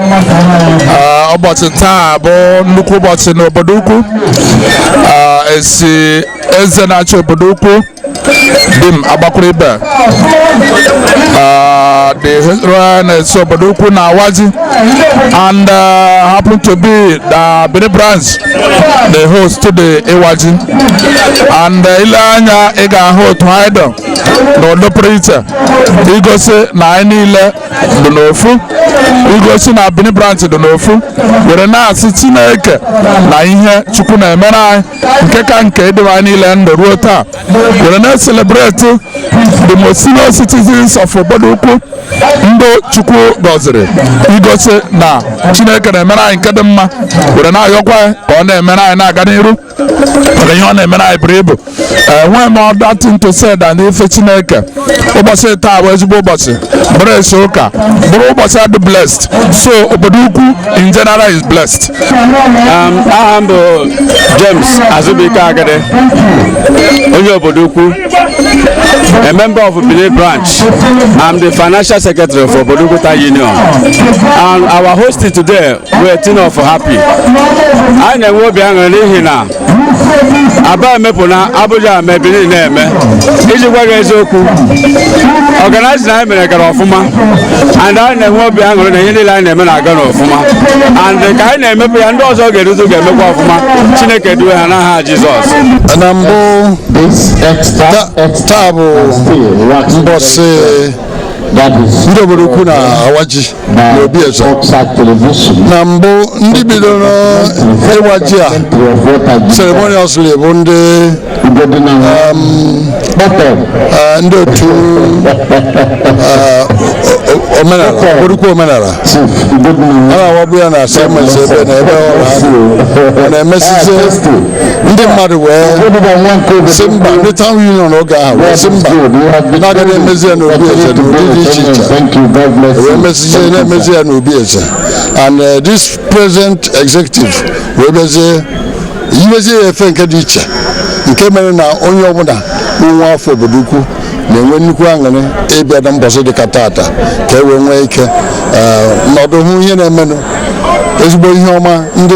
Ah, ụbọchị taa bụ nnukwu ụbọchị n'obodo ukwu ah, esi eze na-achị obodo ukwu Dim Agbakwuruibe ah, the historian na-esi obodo ukwu na-awa ji and uh, happen to be na Benin branch na-ehost the iwaji and uh, ile anya ị ga-ahụ otu ha ịdọ n'ụdị pụrụ iche igosi na anyị niile dị n'ofu igosi na Benin branch dị n'ofu were na-asị Chineke na ihe Chukwu na-emere anyị nke ka nke idebe anyị niile ndụ ruo taa were na-eselebreti the most senior citizens of obodo ukwu ndị Chukwu gọziri igosi na Chineke na-emere anyị nke dị mma were na-ayọkwa ka ọ na-emere anyị na-aga n'iru maka ihe ọ na-emere anyị buru ibu enweghị m other thing to say than ife Chineke ụbọchị taa bụ ezigbo ụbọchị bụrụ esi ụka bụrụ ụbọchị a dị blessed so obodo ukwu in general is blessed aha m bụ James Azubike Agade onye obodo ukwu a member of Benin branch I'm the financial secretary for Obodo Ukwu Town Union and our host today wee tin of happy anyị na-enwe obi aṅụrị n'ihi na Aba emepụna Abuja emee Benin na-eme iji gwa gị eziokwu organizing anyị mere gara ọfụma and anyị na-enwe obi aṅụrị na ihe niile anyị na-eme na-aga n'ọfụma and ka anyị na-emepụ ya ndị ọzọ ga-erutu ga-emekwa ọfụma Chineke duwe ha n'aha Jizọs na mbụ taa bụ mbọsị ndị obodo ukwu na-awa ji n'obi eze na mbụ ndị bidoro ịwa ji a ceremoniously bụ ndị eh, ndị otu eh, obodo ukwu omenala a na-awabụ ya na asị emezi ebe na ebe ọ na-emesizi ndị mmadụ wee sị mba ndị town union oge ahụ wee sị mba na a ga na-emezi ya n'obi eze n'ụdị dị iche iche wee mezie na-emezi ya n'obi eze and uh, this present executive wee mezie yiwezie ya efe nke dị iche nke mere na onye ọbụla bụ nwa afọ obodo ukwu na-enwe nnukwu aṅụrị ịbịa na mbọsị dịka tata ka e wee nwee ike nọdụ hụ ihe na-emenụ ezigbo ihe ọma ndị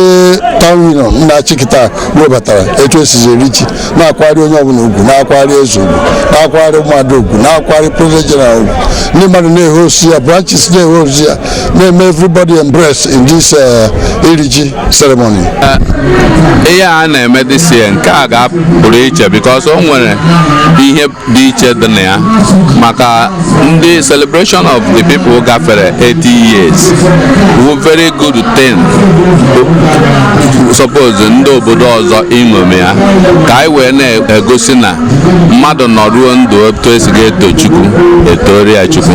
town union na-achị kịta webatara etu e sizi eri ji na-akwari onye ọbụla ugwu na-akwari eze ugwu na-akwari mmadụ ugwu na-akwari president general ugwu ndị mmadụ na-ehosi ya branches na-ehosi ya na-eme everybody embracing this iri ji ceremony eh, ihe a na-eme this year nke a ga-apụrụ iche because o nwere ihe dị iche dị na ya maka ndị celebration of the people gafere 80 years wụ very good thing suppose ndị obodo ọzọ iṅomi ya ka anyị wee na-egosi na mmadụ nọruo ndụ otu esi ga-eto Chukwu etoria Chukwu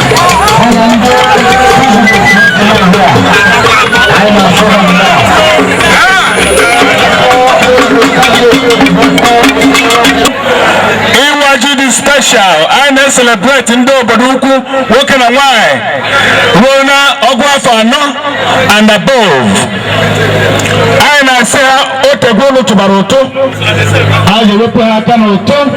celebrate ndị obodo ukwu nwoke na nwanyị ruo na ọgụ afọ anọ and above anyị na-asị ha o teego unu tụbara ụtụ a ga-ewepụ ha aka n'ụtụ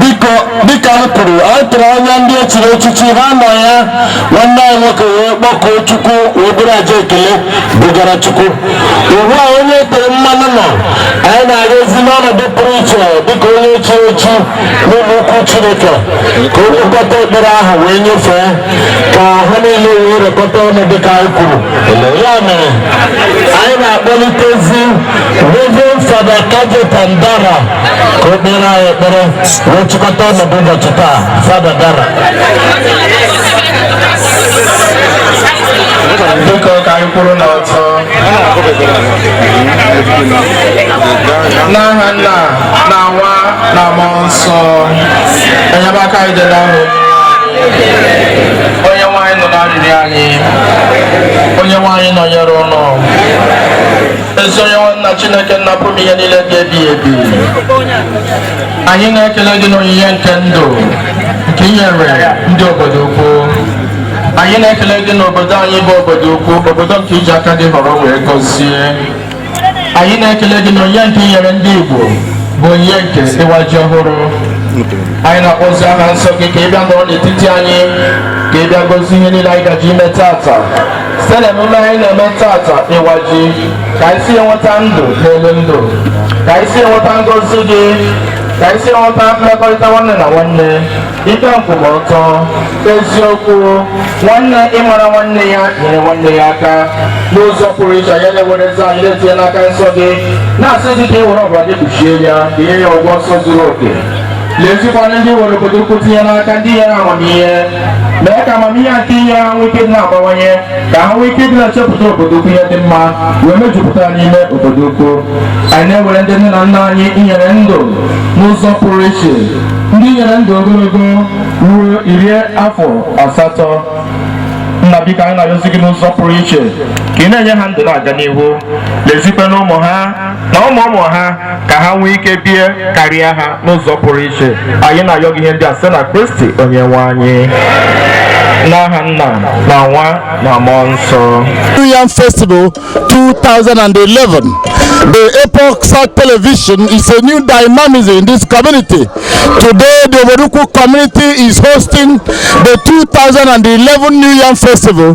biko dịka m kwuru a tụrụ anya ndị echiri echichi ha nọ ya nwanne anyị nwoke wee kpọkuo chukwu wee buru aja ekele bugara chukwu ugbu a onye e tere mmanụ nọ anyị na-arịọzi n'ọnọdụ pụrụ iche dịka onye echiri echi n'ụlọ ukwu chineke ka ọ kpọkọta ekpere ahụ wee nyefee ka ha niile wee rekọta ọnụ dịka anyị kwuru ya mere anyị na-akpọlitezi Reverend Father Cajetan Dara ka o kpeere anyị ekpere wee chịkọta ọnọdụ ụbọchị taa father dara biko ka anyị kwụrụ n'ọtọ n'aha nna na nwa na mmụọ nsọ enyemaka anyị dị n'aha onyenweanyị nụrụ arịrịọ anyị onyenweanyị nọnyere unu ezi onyenweanyị na chineke nna pụrụ ime ihe niile dị ebighị ebi anyị na-ekele gị n'onyinye nke ndụ nke i nyere ndị obodo ukwu anyị na-ekele gị n'obodo anyị bụ obodo ukwu obodo nke i ji aka gị họrọ wee gọzie anyị na-ekele gị n'onyinye nke i nyere ndị igbo bụ onyinye nke ịwa ji ọhụrụ anyị na-akpọzi aha nsọ gị ka ị bịa nọrọ n'etiti anyị ka ị bịa gọzie ihe niile anyị gaje ime taata site n'emume anyị na-eme taata ịwa ji ka anyị si enweta ndụ n'elu ndụ ka anyị si enweta ngọzi gị ka anyị si enweta mmekọrịta nwanne na nwanne ikpe nkwụmọtọ eziokwu nwanne ịmara nwanne ya nyere nwanne ya aka n'ụzọ pụrụ iche anyị na-ewere eze anyị na-etinye n'aka nsọ gị na-asị gị ka ị were ọbara gị kpuchie ya ka i nye ya ọgwụgwọ nsọ zuru oke lezikwa na ndị were Obodoukwu tinye n'aka ndị i nyere amamihe mee ka amamihe nke i nye ha nwee ike ịdị na-abawanye ka ha nwee ike ịdị na-echepụta Obodoukwu ihe dị mma wee mejupụta n'ime Obodoukwu anyị na-ewere ndị nne na nna anyị i nyere ndụ n'ụzọ pụrụ iche ndị i nyere ndụ ogologo ruo iri afọ asatọ nna biko anyị na-ayọzi gị n'ụzọ pụrụ iche ka ị na-enye ha ndụ na-aga n'ihu lezikwa na ụmụ ha na ụmụ ụmụ ha ka ha nwee ike bie karịa ha n'ụzọ pụrụ iche anyị na-ayọ gị ihe ndị a site na kristi onye nwe anyị n'aha nna na nwa na mmụọ nsọ Yam Festival 2011. The Epoch South Television is a new dynamism in this community. Today, the Obodoukwu community is hosting the 2011 New Yam Festival.